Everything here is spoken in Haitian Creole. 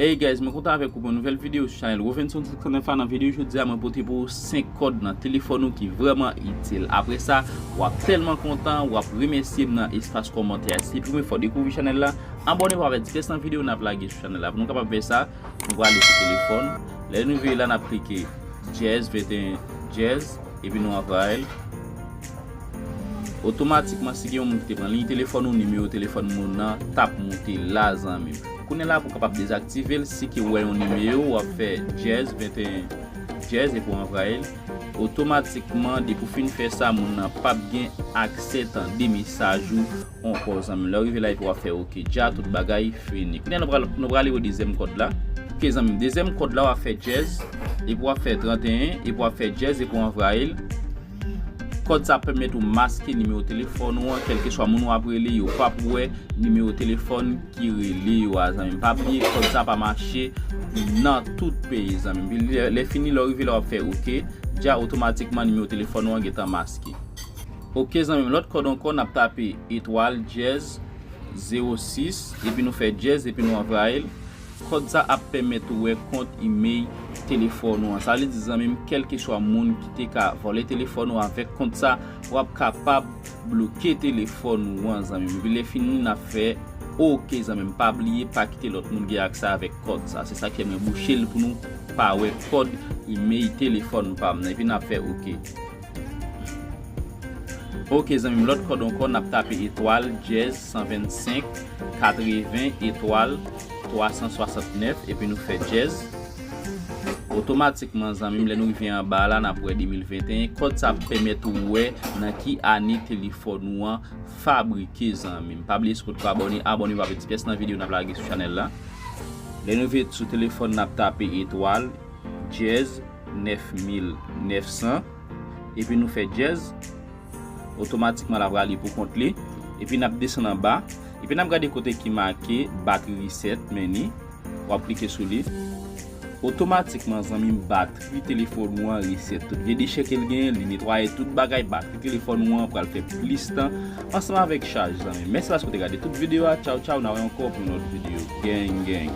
Hey guys mwen kontan avèk ou pou yon nouvèl videyo sou chanèl Rovenson 509 la nan videyo jodi a mwen pote pou ou 5 kòd nan telefòn ou ki vrèman itil apre sa wap tèlman kontan wap remèsye m nan espas kòmantè a si se premye fwa ou dekouvri chanèl la abòne pou avèk divès nan videyo nap lage sou chanèl la pou nou kapab fè sa nou prale sou telefòn lè nou rive la nap klike dyèz 21 dyèz Epi nou anvayi l. Otomatikman si gen yon moun ki te pran liy telefòn ou, nimewo telefòn moun nan t ap moute la zanmi m. Kounye la pou w kapab dezaktive l, si ke w wè yon nimewo w ap fè dyèz 21 dyèz epi w anvayi l. Otomatikman depi w fin fè sa moun nan p ap gen aksè tande mesaj ou. ankò zanmim lèw rive la epi wap fè ok dja tout bagay fini kounya nou pral nou prale yon dezyèm kòd la ok zanmim dezyèm kòd la wap fè dyèz epi wap fè 31 epi wap fè dyèz epi wap anvrayil kòd sa ap pèmèt ou maske nimewo telefòn ou an kèlke swa moun wap rele yo pap wè nimewo telefòn ki rele yo a zanmim pa bliye kòd sa pa mache nan tout peyi zanmim epi lè lè fini lèw rive la wap fè ok dja otomatikman nimewo telefòn ou an gentan maske. Ok zanmim lòt kòd ankò nap tape etwal dyèz zewo sis epi nou fè dyèz epi nou anvayil kòd sa ap pèmèt ou wè kont imey telefòn ou an sa vle di zanmim kèlkeswa moun ki te ka vòlè telefòn ou avèk kont sa wap kapab bloke telefòn ou an zanmim epi lè fini nap fè ok zanmim pa bliye pa kite lòt moun gen aksè avèk kòd sa se sak fè mwen bouchel pou nou pa wè kòd imey telefòn pam nan epi nap fè ok. Ok zanmi m lòt kòd ankò nap tape etwal dyèz 125 80 etwal 369 epi nou fè dyèz otomatikman zanmi m lè nou rive anba la nap wè 2021 kòd sa ap pèmèt ou wè nan ki ane telefòn ou an fabrike zanmi m pa bliye sou potko abòne abòne pou pa pèdi pyès nan videyo nap lage sou chanèl la lè nou rive sou telefòn nap tape etwal dyèz 9900 epi nou fè dyèz otomatikman lap rale pou kont li epi nap desann anba epi nap gade kote ki make batri reset menu wap klike sou li otomatikman zanmim batri telefòn ou an reset tout vye dechè kel genyen li netwaye tout bagay batri telefòn ou an pral fè plis tan ansanm avèk chaj zanmim mèsi paske ou te gade tout videyo a tchaw tchaw na wè ankò pou yon lòt videyo geng geng.